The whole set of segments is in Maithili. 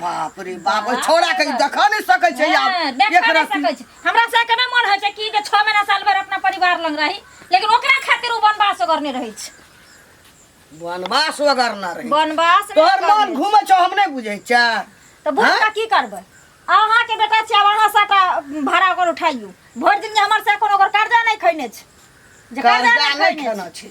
बाप रे बाप ओइ छोड़ा के देख नहीं सकै छै हाँ, आब देख एक नहीं रत्ती सकै छै। हमरा से केना मन होइ छै कि जे छओ महीना साल भर अपना परिवार लग रही लेकिन ओकरा खातिर ओ वनवास ओकर नहि रहै छै वनवास वगैरह ना रही वनवास नहि तोहर ओकर मन रहै। घूमै छौ हम नहीं बुझै छै तऽ बुझ हाँ? कऽ की करबै अहाँके बेटा छियै आब अहाँ साटा भाड़ा ओकर उठाइयो भरि दिन जे हमर से कोनो ओकर कर्जा नहि खैने छै जे कर्जा कर्जा नहीं नहीं खैने खेना छै छै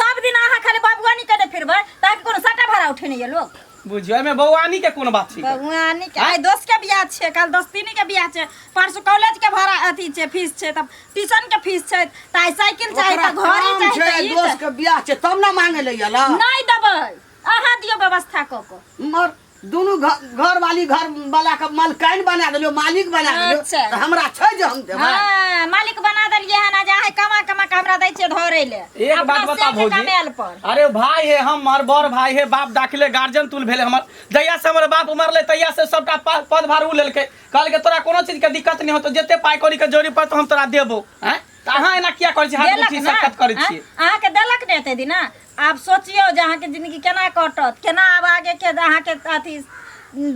सब दिन अहाँ खाली बबुआनी कने फिरबै ताकि कोनो सटा भरा उठे नहीं है लोग बुझियो में बौआनी के कोन बात छी बबुआनी के आइ दोस्त के बियाह छै काल दोस्तीनी के बियाह छै परसु कॉलेज के भरा अथी छै फीस छै तब ट्यूशन के फीस छै त आइ साइकिल चाही त घड़ी चाही त ई दोस्त के बियाह छै तब ना मांगे ले यला नहीं देबै अहाँ दियो व्यवस्था क क मर दुनू घर वाली घर वाला के मालकाइन बना देलियो मालिक बना देलियो अच्छा। त हमरा छै जे हम देबै हाँ, मालिक बना देलिए हन आ जा है कमा कमा के हमरा दै छिए धरे ले एक अपना बात बता सेठ भौजी कमेल पर अरे भाई है हमर बड़ भाई है बाप दाखिले गार्जियन तुल भेले हमर जहिया से हमर बाप मरले तहिया से सबटा पा- पद भार उ लेलके कहल के तोरा कोनो चीज के दिक्कत नहीं होतो जते पाई कौड़ी के जोड़ी पर तो हम तोरा देबो हैं त अहाँ एना किया करै छी हाथ देलक उठी ना सकत करै छी अहाँ के देलक ने एते दिन आब सोचियौ जे अहाँके जिंदगी केना कटत केना आब आगे के अहाँके अथी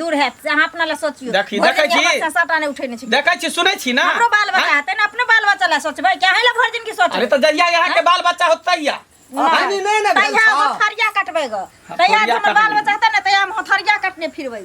दूर हैत से अहाँ अपना लए सोचियौ देखी, भरि देखै दिन छी? बच्चा साटा नहि उठेने छी देखै छी सुनै छी ना हमरो बाल बच्चा हेतै ने अपने बाल बच्चा लए सोचबै कि अहीं लए भरि दिन की अरे सोचबै तऽ जहिया यहाँ के बाल बच्चा होत तहिया पानी नहि ने भेल तहिया हम छौ। हथरिया कटबै गऽ तहिया हथौड़िया जे हमर बाल कटबै। बच्चा हेतै ने तहिया हम हथरिया कटने फिरबै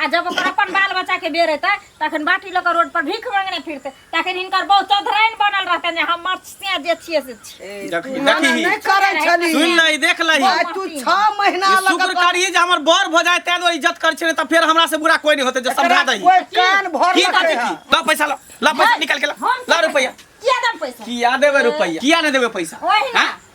आ जब ओकर अपन बाल बच्चा के बेर एतै तखन बाटी लऽ कऽ रोड पर भीख मांगने फिरतै तखन हिनकर बहु चौधराइन बनल रहतै जे हम मत्स्या जे छियै से छियै देखी मना देखी नहि करै छली सुन लही देख लही आइ तू छह महीना ई शुक्र लगल करिए जे हमर बर भऽ जाए ताहि दुआरे इज्जत करै छै तऽ फेर हमरा से बुरा कोई नहीं होते जे समझा दही कोइ कान भर की बात लखै है है ला पैसा ला ला पैसा निकाल के ला हम ला रुपया किया दम पैसा किया देबे रुपया किया नहीं देबे पैसा ओही ना। हाँ?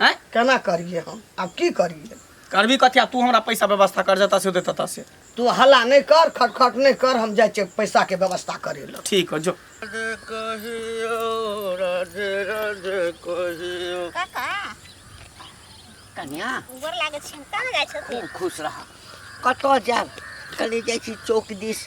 हैं केना करिए हम आब की करिए करबी कथी तू हमरा पैसा व्यवस्था कर देता से देता से तू हल्ला नहीं कर खटखट नहीं कर हम जाए छे पैसा के व्यवस्था करे ला ठीक है जो राधे कहियो राधे राधे कहियो काका कन्या गोर लागे छी कहाँ जाय छथिन खूब खुश रहा कतऽ जायब कनी जाइ छी चौक दिस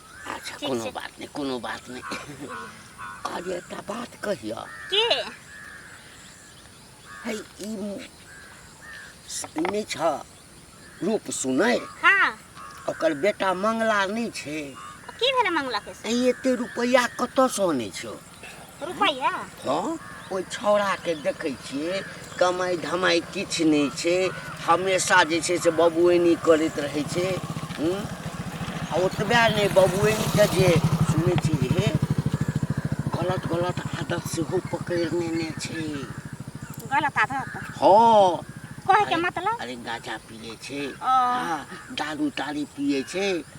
अच्छा ठीक कोनो छै। बात नहि कोनो बात नहि अरे एकटा बात कहियऽ की है ई मु- ई नहि छ रूप सुनै हाँ ओकर बेटा मंगला नहि छै की भेलै मंगला के से ई एते रुपैआ कतऽसँ अनै छौ रुपैआ हँ ओहि छौड़ाके देखै छियै कमाइ धमाइ किछु नहि छै हमेशा जे छै से बबुएनी करैत रहै छै हूँ? आ ओतबे नहि बबुएनीके जे सुनै छी जे हे गलत गलत आदत सेहो पकड़ि नेने छै गलत आदत हँ कहैके मतलब अरे गाजा पिए छै ओ। आ दारू तारी पिए छै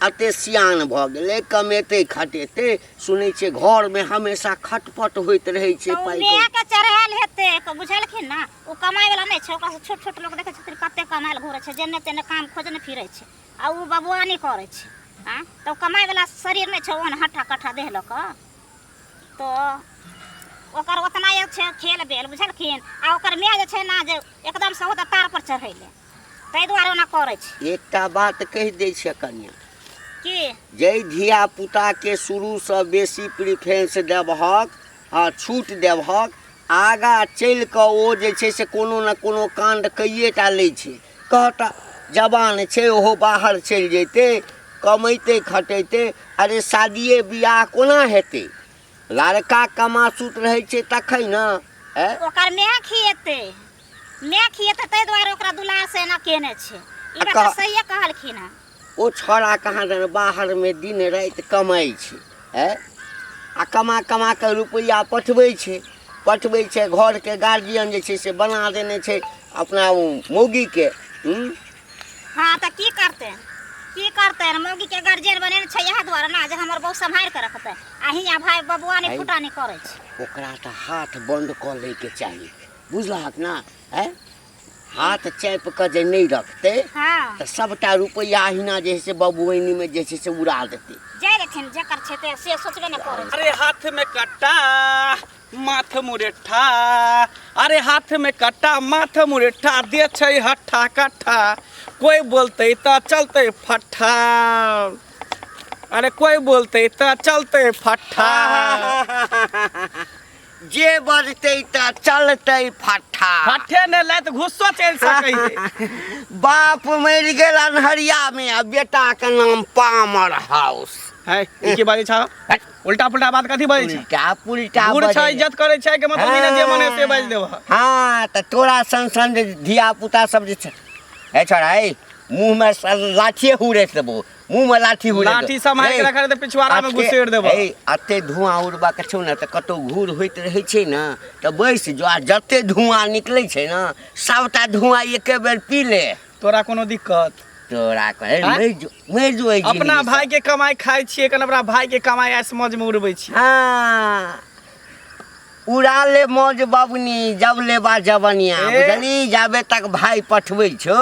अते सियान भऽ गेलै कमेतै खटेतै सुनै छियै घरमे हमेशा खटपट होइत रहै छै तऽ ओ पाइ माय के चढ़ायल हेतै क- बुझलखिन ने ओ कमाय वाला नहि छै ओकरा से छोट छोट लोग देखै छथिन कते कमायल घुरै छै जेने तेने काम खोजने फिरै छै आ ओ बबुआनी करै छै आ तऽ ओ कमाय वाला शरीर नहि छै ओहन हट्ठा कट्ठा देह लऽ कऽ तो ओकर ओतना एक छै खेल बेल बुझलखिन आ ओकर माय जे छै ने जे एकदम से होता तार पर चढ़ैले ताहि दुआरे ओना करै छी एकटा बात कहि दै छियै कनिया की जाहि धिया पुताके शुरूसँ बेसी प्रिफरेंस देबहक हँ छूट देबहक आगाँ चलि कऽ ओ जे छै से कोनो ने कोनो काण्ड कैए टा लै छै कहता जवान छै ओहो बाहर चलि जैतै कमैतै खटैतै अरे शादिए बियाह कोना हेतै लड़का कमासुत रहै छै तखन ने ऐ ओकर माय खिएतै माय खिए तऽ ताहि दुआरे ओकरा दुलार से एना केने छै ई आ बात कह- सहिए कहलखिन हँ ओ छौड़ा कहाँ दन बाहरमे दिन राति कमाइ छै है आ कमा कमा कऽ रुपैआ पठबै छै पठबै छै घरके गार्जियन जे छै से बना देने छै अपना ओ मौगीके हुँ? हाँ तऽ की करतै की करतै मौगी के गार्जियन बनेने छै इएह दुआरे ने जे हमर बहू सम्हारि कऽ रखतै आ हियाँ भाय बबुआ नहि आइ- फुटानी करै छै ओकरा तऽ हाथ बन्द कऽ लैके चाही बुझलहक ने आँय हाथ चापि कऽ जे नहि रखतै हाँ तऽ सभटा रुपैआ अहिना जे छै से बबुआनीमे जे छै से उड़ा देतै जाय रहथिन जकर छै ते से सोचबे ने करै छै। अरे हाथ में कट्टा माथ मुरेठा अरे हाथ में कट्टा माथ मुरेठा दे छै हट्ठा कट्ठा कोई बोलते त चलते फट्ठा अरे कोई बोलते त चलते फट्ठा जे बजतै तऽ चलतै फट्ठा फट्ठे ने लै तऽ घुस्सो चलि सकैए बाप मरि गेल अन्हरियामे आ बेटाके नाम पामर हाउस है ई की बाजै छौ उल्टा पुल्टा बात कथी बाजै छौ उल्टा पुल्टा बूढ़ छै इज्जत करै छै कि मतलब बिना जे मने से बाजि देबह हाँ तऽ तोरा सन सन जे धिया पुता सब जे छै हे छोड़ा हे मुँहमे लाठिए हुड़ैस देबो मुंह में लाठी हो लाठी सम्हारि के रखा रहते पिछवाड़ा में घुसेड़ देबो ए अते धुआं उड़बा के छौ ना त कतो घूर होइत रहै छै ना त बैस जो आ जते धुआं निकलै छै ना सबटा धुआं एके बेर पी ले तोरा कोनो दिक्कत तोरा कहे आँय? मरि जो मरि जो एहि अपना जिनगी भाई के कमाई खाई छिए कन अपना भाई के कमाई ऐस मौज में उड़बै छी से। हाँ उड़ा ले मौज बबनी जब लेबा जवनिया ए? बुझली जाबे तक भाई पठबै छौ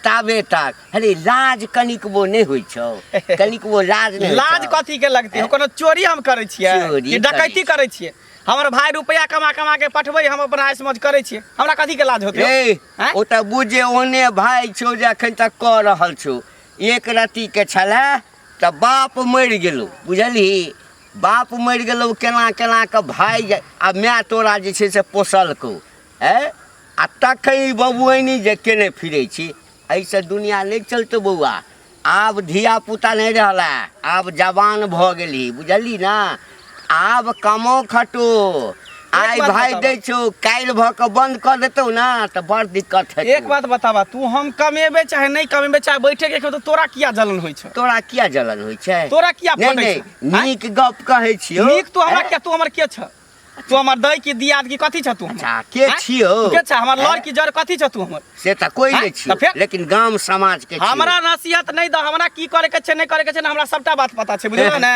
ताबे तक अरे लाज कनिकबो नहि होइ छौ कनिकबो लाज नहि होइ लाज छौ। कथी के लगती है कोनो चोरी हम करे छिए चोरी कि डकैती करै करे छिए हमर भाई रुपया कमा कमा के पठबै हम अपन आइस मौज करे छिए हमरा कथी के लाज होते रे हैं? ओ तऽ बुझे ओने भाय छौ जे अखन तक कऽ रहल छौ एक रत्ती के छलै तऽ बाप मरि गेलौ बुझलही बाप मरि गेलौ केना केना कऽ भाय जा- आ माय तोरा जे छै से पोसलकौ ए आ तखन ई बबुआनी जे केने फिरै छी एहिसँ दुनिया नहि चलतौ बौआ आब धिया पुता नहि रहला आब जवान भऽ गेलही बुझलही ने आब कमो खटू आइ बात भाइ बताबऽ। दै छौ काल्हि भऽ कऽ बन्द कऽ देतौ ने तऽ बड़ दिक्कत एक हेतौ बात बताबा तू हम कमेबे चाहे नहीं कमेबे चाहे बैठे के खेबे, तो तोरा किया जलन होइ छै तोरा किया जलन होइ छै तोरा किया नहि फटै छै नहि आँय? नीक गप कहै छियौ नीक तू हमरा के तू हमर के छ तू हमर दै की दियाद की कथी छ तू हमर अच्छा, के आँय? छियौ? तू के छ हमर लड़ आँय? की जड़ कथी छ तू हमर से तऽ कोई आँय? नहि छियौ तऽ फेर? लेकिन गाम समाज के छियौ। हमरा नसीहत नहीं द हमरा की करे के छै नहीं करे के छै ना हमरा सबटा बात पता छै बुझलो ने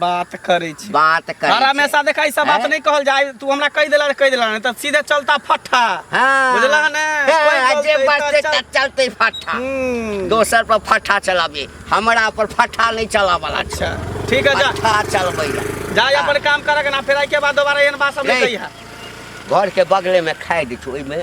बात करे छी बात कर हर हमेशा देखा ई सब बात हैं? नहीं कहल जाए तू हमरा कह देला कह देला नहीं तो सीधे चलता फट्ठा हाँ बुझला है ना? कोई हाँ, जे बोलते बात तो से चल- त- चलते फट्ठा हम्म, दोसर पर फट्ठा चलाबी हमरा पर फट्ठा नहीं चलावला अच्छा ठीक है जा फट्ठा चलबै ला। जा हाँ। अपन काम करक ना फिर आई के बाद दोबारा एन बात सब नहीं नहीं। कही है घर के बगले में खाए दी ओहिमे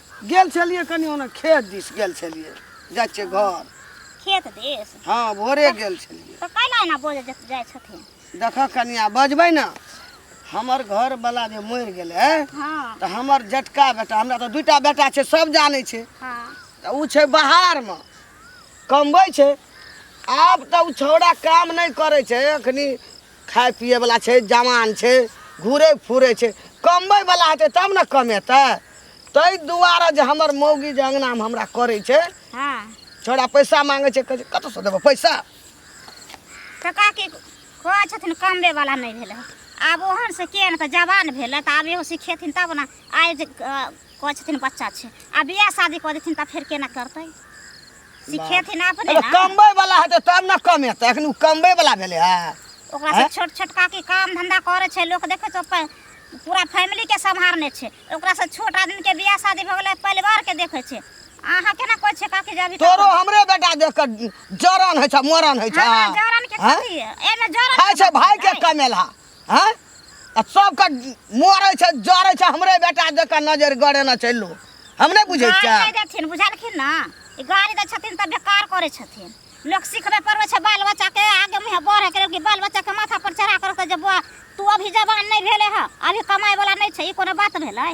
गेल छलियै कनि ओना खेत दिस गेल छलियै जाइ छियै घर खेत देश हँ भोरे गेल छलियै तो कैला एना बोले जे जाय छथिन देखऽ कनिया बजबै ने हमर घरवला जे मरि गेलै हाँ तऽ हमर जटका बेटा हमरा तऽ दूटा बेटा छै सब जानै छै हाँ तऽ ओ छै बाहरमे कमबै छै आब तऽ ओ छौड़ा काम नहि करै छै एखनी खाइ पिएवला छै जवान छै घुरै फुरै छै कमबैवला हेतै तब ने कमेतै ताहि दुआरे जे हमर मौगी जे अङ्गनामे हमरा करै छै हाँ छोड़ा पैसा मांगे छै कहै छै कतऽसँ देबो पैसा तऽ काकी कहै छथिन कमबे वाला नहि भेलै आब ओहन से के ने तऽ जवान भेलै तऽ आब एहो सिखेथिन तब ने आइ जे अ, कहै छथिन बच्चा छै आ बियाह शादी कऽ देथिन तऽ फेर केना करतै सिखेथिन अपने अरे ना कमबै वाला हेतै तब ने कमेतै एखन ओ कमबै वाला भेलै है ओकरा से आँय? छोट छोट काकी काम धंधा करे छै लोक देखे छै अपन पूरा फैमिली के संभारने छै ओकरा से छोट आदमी के बियाह शादी भऽ गेलै परिवार के देखे छै अहाँ केना कहै छै काकी जे अभी तक- तोरो हमरे बेटा देख कऽ जरन होइ छै मरन होइ छै हमरा जरन के आँय? कथी एमे जरन खाइ के छै बात भाय के छै। कमेला आँय आ सबके मरै छै जरै छै हमरे बेटा जकाँ नजर गड़ेने छै लोग हम नहि बुझै गाड़ी छियै नहि देथिन बुझलखिन ने ई गाड़ी दै छथिन तऽ बेकार करै छथिन लोक सिखबै पड़बै छै बाल बच्चाके आगे मुँहे बढ़ैके लेल कि बाल बच्चाके माथा पर चढ़ा करके जे बौआ तू अभी जवान नहि भेले हँ अभी कमाइवला नहि छै ई कोनो बात भेलै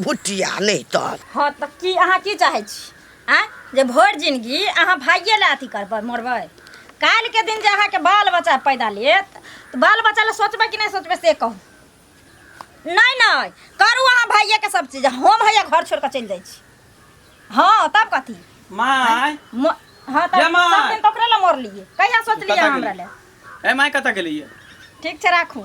भुटिया नहि तोर हँ तऽ की अहाँ की चाहै छी आँय जे भरि जिनगी अहाँ भाइये लए अथी करबै मरबै काल्हिके दिन जे अहाँके बाल बच्चा पैदा लेत तऽ बाल बच्चा लए सोचबै कि नहि सोचबै से कहू नहि नहि करू अहाँ भाइयेके सब चीज हम हैया घर छोड़ि कऽ चलि जाइ छी हँ तब कथी माय म- हँ तब जमा। सब दिन तऽ ओकरे लए मरलियै कहिया सोचलियै कतऽ हमरा गेलियै? लए ए माय कतऽ गेलियै ठीक छै राखू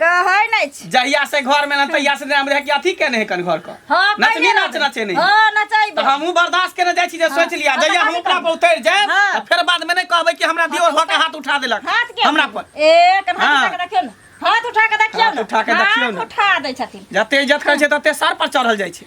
कहै नै छी जहिया से घर में ना तहिया से नाम रहे कि अथी केने है कन घर का हां नचनी नाच नचे नहीं हां नचैब तो हमहु बर्दाश्त केने जाय छी जे सोच लिया हाँ, जहिया हम अपना पर उतर जाय हाँ। तो फिर बाद में नै कहबै कि हमरा दियो हो के हाथ उठा देलक हाथ के हमरा पर ए कन हाथ हाँ। उठा के देखियो ना हाथ उठा के देखियो ना उठा के देखियो ना उठा दै छथिन जते इज्जत करै छै तते सर पर चढ़ल जाय छै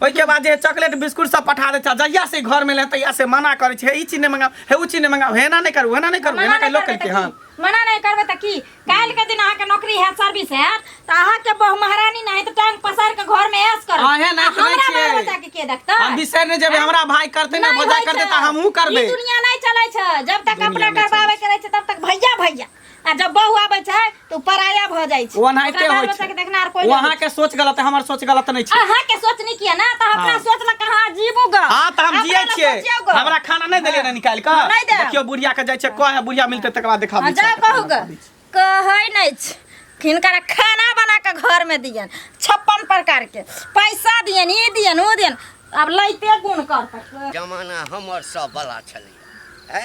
ओहिके बाद जे चॉकलेट बिस्कुट सब पठा दै छै जहिया से घर में ले तहिया से मना करे छै हे ई चीज नहीं मंगाओ हे उ चीज नहीं मंगाओ हेना नहीं करू हेना नहीं करू मना हेना नहीं लोग करबै कहलके तऽ हन की? मना नहीं करबै तऽ की काल्हि के दिन अहाँके नौकरी है सर्विस है तऽ अहाँके बहु महारानी नहीं तऽ टांग पसार के घर में ऐश करब अहे आ नाचि हमरा नाचि बाल बच्चा के के देखतै हम बिसर ने जेबे हमरा भाई करते ना नहीं भजा होइ करते छै। तऽ हमहू करबे ई दुनिया नहीं चलै छै जब तक अपना दुनिया नहि करबाबे के रहै छै तब तक भैया भैया आ जब बहू आबै छै तऽ उ पराया भऽ जाइ छै ओनाहिते ओकरा बाल होइ बच्चा के छै देखनार कोई वहाँ के सोच गलत है हमर सोच गलत नहीं छै अहाँ के सोच नहीं किया ना तऽ अपना हाँ। सोच ल कहाँ जीबू ग हाँ तऽ हम जियै छियै हमरा खाना नहीं देलियै ने निकाल के नहीं देब। देखियो बुढ़िया के जाइ छै कह है बुढ़िया मिलते तकर बाद देखा हाँ, जाओ कहू ग कहै नहीं छै हिनकरा खाना बना के घर में दियन छप्पन प्रकार के पैसा दियन ई दियन ओ दियन अब लैते गुण करतै जमाना हमर सब बला छलै है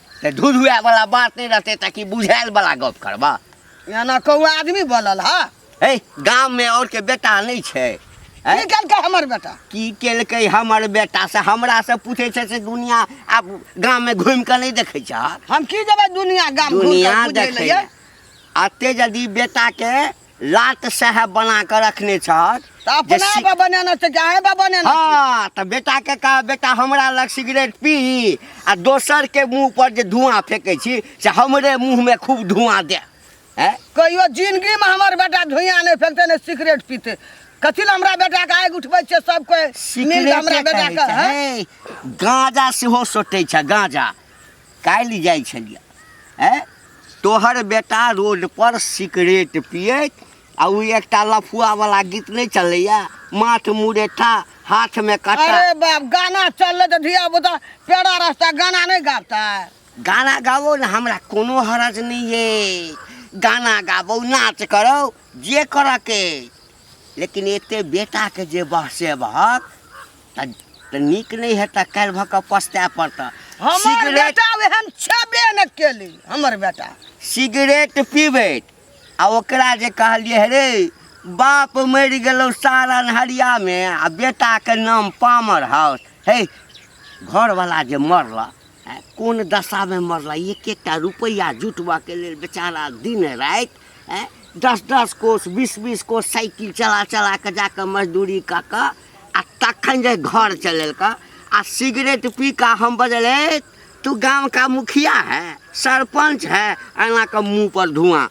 तऽ धुधुआ वाला बात नहीं रहते ताकि बुझायल वाला गप करबा एना कौआ आदमी बनल हा हे गाम में और के बेटा नहीं छै हैं? की केलकै हमर बेटा की केलकै हमर बेटा से हमरा से पूछे छै से दुनिया आब गाम में घूम के नहीं देखे छ हम की जेबै दुनिया गाम घुर दुनिया के बुझै देखे लए अते यदि बेटा के लाट साहेब बना कऽ रखने छहक तऽ अपना जे सी- बा बनाना छै कि अहें बा बनाना छै? हाँ तऽ बेटा के कहा बेटा हमरा लग सिगरेट पी आ दोसर के मुंह पर जे धुआं फेंकै छी से हमरे मुंह में खूब धुआं दे हैं? कहियो जिंदगी में हमर बेटा धुइयां नहीं फेंकते ने सिगरेट पीते कथी ला हमरा बेटा के आगि उठबै छै सब कोई मिल कऽ हमरा सिगरेटे बेटा कहै के छै, हैं? हे, गांजा सेहो सोटै छै गांजा काल्हि जाइ छलियै ऐ तोहर बेटा रोड पर सिगरेट पियैत आ ओ एकटा लफुआ वाला गीत नहि चलैया माथ मुरेठा हाथ में कटा अरे बाप गाना चलले तो धिया पुता पेड़ा रास्ता गाना नहीं गाता है गाना गाबो ने हमरा कोनो हरज नहीं है गाना गाबो नाच करो जे करऽ के लेकिन एते बेटा के जे बहसे बहक तऽ तऽ नीक नहि हेतै काल्हि भऽ कऽ पछताए पड़तऽ हमर सिगरेट बेटा एहन छेबे ने केली हमर बेटा सिगरेट पीबैत आ ओकरा जे कहलियै हे रे बाप मरि गेलौ सारण हरियामे आ बेटाके नाम पामर हाउस हे घरवला जे मरल आँय, कोन दशामे मरल एक एकटा रुपैआ जुटबऽके लेल बेचारा दिन राति आँय, दस दस कोस बीस बीस कोस साइकिल चला चला कऽ जाकऽ मजदूरी कऽ कऽ आ तखन जे घर चलल का आ सिगरेट पी का हम बजल "ए, तू गांव का मुखिया है सरपंच है एना का मुंह पर धुआं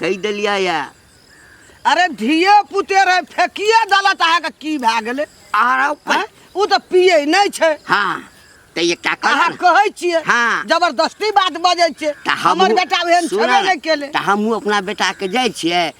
कही दिलिया या अरे धिये पुते रहे फेकिए दला तहा के की भए गेले आर आउ पर- हैं? उ त पिए नहीं छै हाँ तो ये क्या अहाँ कर कहै छियै हाँ। जबरदस्ती बात बजै छियै हमर बेटा ओहन छेबे नहि केले तऽ हमहूँ अपना बेटाके जाइ छियै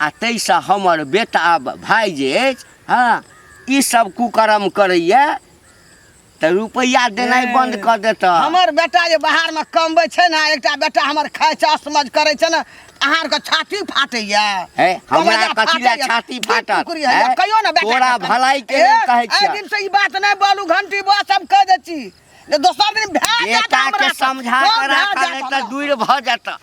आ ताहिसँ हमर बेटा आ भाय जे अछि हँ ई सब कुकर्म करैए तऽ रुपैआ देनाइ बन्द कऽ देतह हमर बेटा जे बाहरमे कमबै छै ने एकटा बेटा हमर खाइ छै असमझ करै छै ने अहाँ आरके छाती फाटैया हे हमरा कमैया कथी लए फाटैया। छाती की फाटत कुकुरी होइया? हे? कहियो ने बेटा तोरा भलाई के लेल कहै छियै दिन से ई बात नहि बोलू घंटी बस हम कह दै छी जे दोसर दिन भए जायत बेटा हमरा के से। समझा कम कऽ भए राखऽ जायत नहि तऽ हमरा। दूर भऽ जेतह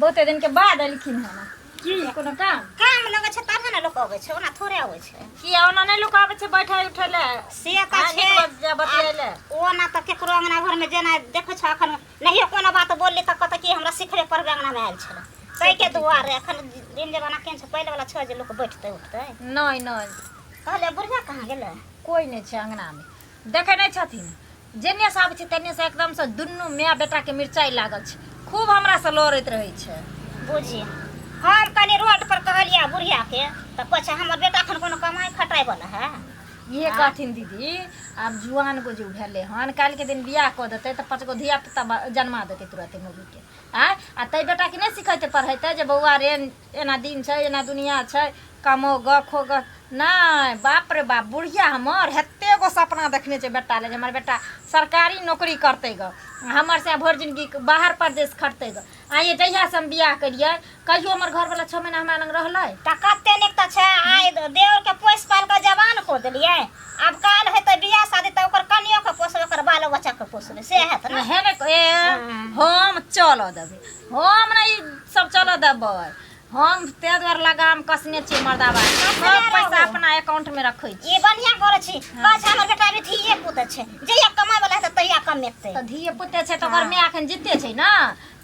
बहुते दिन के बाद एलखिन हन की कोनो काम काम लगे छै तबे ने लोक अबै छै ओना थोड़े अबै छै की ओना नहि लोक आबै छै बैठे उठे ले से तऽ आ, छै नीक बात जे बतियाइ ले। आ ओना तऽ केकरो अंगना घर में जेना देखै छ अखन नहियो कोनो बात बोलली तऽ कहतै कि हमरा सिखरे पर अंगना में आयल छलै ताहि के दुआरे अखन दिन जमाना केहन छै पहिले वाला छै जे लोक बैठतै उठतै नहि नहि कहले बुढ़िया कहाँ गेलै कोई नहि छै अंगना में देखै नहि छथिन जेन्नेसँ आबै छै तेन्नेसँ एकदमसँ दुनू माय बेटाके मिरचाइ लागल छै खूब हमरासँ लड़ैत रहै छै बुझी हम कनि रोड पर कहलियै बुढ़ियाके तऽ कहै छै हमर बेटा एखन कोनो कमाइ खटाइ बला है इहे कहथिन दीदी आब जुआन गो जे भेलै हन काल्हिके दिन बियाह कऽ देतै तऽ पाँच गो धियापुता जन्मा देतै तुरते मौगीके आँय आ तै बेटाके नहि सिखैते पढ़ैते जे बौआ रे एना दिन छै एना दुनिया छै कमो ग खो ग नहि बाप रे बाप बुढ़िया हमर हेते गो सपना देखने छै बेटा ले जे हमर बेटा सरकारी नौकरी करतै ग हमर से भरि जिनगी बाहर परदेश खटतै ग आइए जहियासँ हम बियाह केलियै कहियो हमर घरवला छओ महीना हमरा लग रहलै तऽ कते नीक तऽ छै आइ देवरके पोसि पालि कऽ जवान कऽ देलियै आब काल हेतै बियाह शादी तऽ ओकर कनियोके पोसबै ओकर बालो बच्चाके पोसबै से हेत ने हे ने ए हम चल देबै हम नहि सब चल देबै हम ताहि दुआरे लगाम कसने छियै मर्दाबा सब पैसा अपना एकाउंटमे रखै छी ई बढ़िया करै छी बस हमर बेटा भी धिये पुत छै जहिया कमाय वाला हेतै तहिया कमेतै तऽ धिये पुते छै तऽ ओकर माय एखन जीते छै ने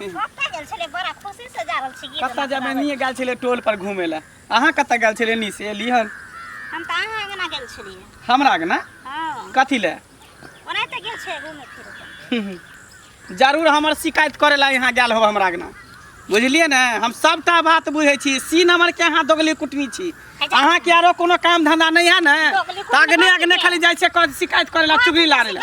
कतऽ गेल छलै बड़ा खुशी से जा रहल छी गीत कतऽ जाबे नहीं गेल छलै टोल पर घूमे ला अहाँ कतऽ गेल छलै नी से लिहन हम तऽ अहाँ अंगना गेल छलियै हमरा अंगना हँ कथी ले ओनाहिते गेल छै घूमे फिरे जरूर हमर शिकायत करे ला यहाँ गेल हो हमरा अंगना बुझलिए ने हम सबटा बात बुझे छी सी नंबर के अहाँ दोगली कुटनी छी अहाँ के आरो कोनो काम धंधा नहीं है ने अग्ने अग्ने खाली जाय छै शिकायत करे ला चुगली लारे ला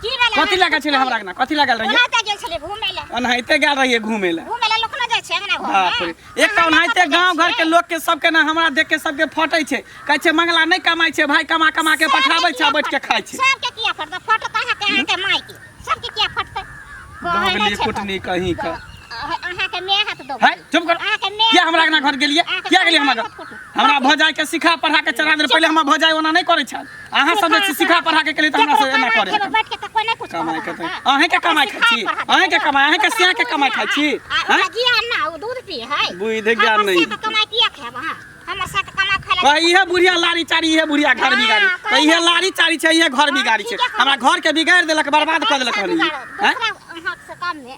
की भेलै कथी हमरा लागल छलै हमरा अंगना कथी लागल रहिए ओना तऽ गेल छलै घूमे लए ओनाहिते गेल रहिए घूमे लए घूमे लए लोक न जाइ छै अंगना घर बाप रे मे एक तऽ ओनाहिते गांव घर के लोग के सबके ना हमरा देख के सबके फटै छै कहै छै मंगला नहि कमाइ छै भाई कमा कमा के पठाबै छै आ बैठ के खाइ छै सबके किया फटतै फटत अहाँके अहाँके माय के सबके किया फटतै कहै नहि बाबली छै कुटनी कहीं का अह- अहाँके माय हाथ दो है चुप कर अहाँके माय किया हमरा अंगना घर गेलिए किया गेलिए हमरा घर हमरा भौजाई के सिखा पढ़ा के चढ़ा दे पहिले हमरा भौजाई ओना नहि करै छल अहाँ सब जे सिखा पढ़ा के केली त हमरा से एना करे एगो बैठ के त कोने कुछ कमाई करत करते रहता। अहें के कमाई खाइ छी अहें के कमाई अहें के सिया के कमाई खाइ छी आ हैं? ओकरा ज्ञान ना उ दूध पिए है बुद्धि ज्ञान हमर नहीं। से त कमाई किया खाएब अहाँ हमर से त कमा खाए कह इहे बुढ़िया लारी चारी इहे बुढ़िया घर बिगाड़ी हाँ, कह इहे लारी चारी छै इहे घर बिगाड़ी छै ठीक है, हमरा घर के बिगाड़ देलक बर्बाद कर देलक हनी हैं? दूसरा हाथ से काम में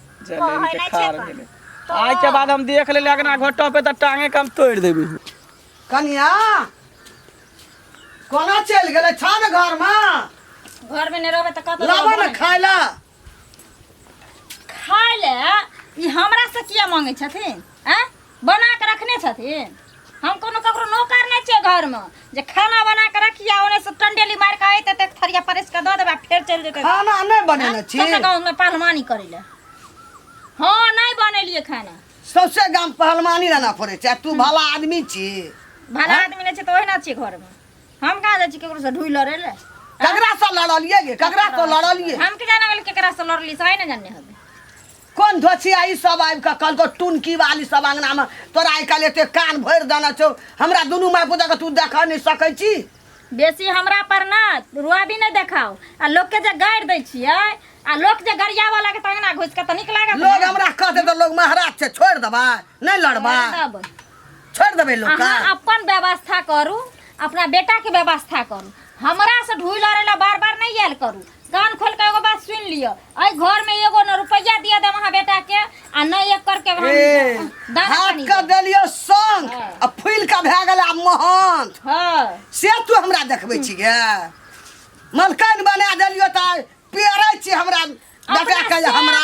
जलेन के खार गेले आज के बाद हम देख लेले अगना घोटो पे त टांगे कम तोड़ देबी कनिया कोना चल गेले छा न घर में घर में नहीं रहबे त कत लाबा न खाइला खाय ले ई हमरा से किया मांगे छथिन हैं बना कऽ रखने छथिन हम कोनो ककरो नौकर नहि छियै घरमे जे खाना बना कऽ रखिया ओने से टंडेली मारि कऽ अयतै तऽ एक थरिया परसि कऽ दऽ देबै फेर चलि जेतै खाना नहि बनेने छी सबके गाँवमे पहलवानी करै लए हँ नहि बनेलियै खाना सौसे गाम पहलवानी रहना पड़े छै तू भला आदमी छी भला आदमी नहि छै तऽ ओहिना छियै घरमे हम कहाँ जाइ छी ककरो से ढुइ लड़ै लए ककरा से लड़लियै गे ककरा से लड़लियै हम के जाना गेल केकरा से लड़ली से आइ ने जानने हबे कोन धोछिया ई सब आबि कऽ कहलको टुनकी वाली सब अंगना में तोरा आइ काल्हि एते कान भरि देने छौ हमरा दुनू माय पुतक तू देख नहि सकै छी बेसी हमरा पर ना रुआबी नहीं देखाओ आ लोग के जे गाड़ दै छियै आ लोग जे गरिया वाला के तंगना घुस के त नीक लागत लोग ना। हमरा कहते तऽ लोग महाराज छै छोड़ि देबै नहि लड़बै तब छोड़ि देबै लोग अहाँ का अपन व्यवस्था करू अपना बेटा के व्यवस्था करू हमरा से ढूल लड़े ला बार बार नहीं आयल करू कान खोल के एगो बात सुन लियो अई घर में एगो न रुपया दिया दे वहां बेटा के आ न एक करके वहां ए, दाना हाथ पानी के दे। देलियो संग हाँ। आ फूल के भए गेल आब महन हां से तू हमरा देखबै छी गे मलकान बना देलियो तऽ पेरै छी हमरा बेटा के जे हमरा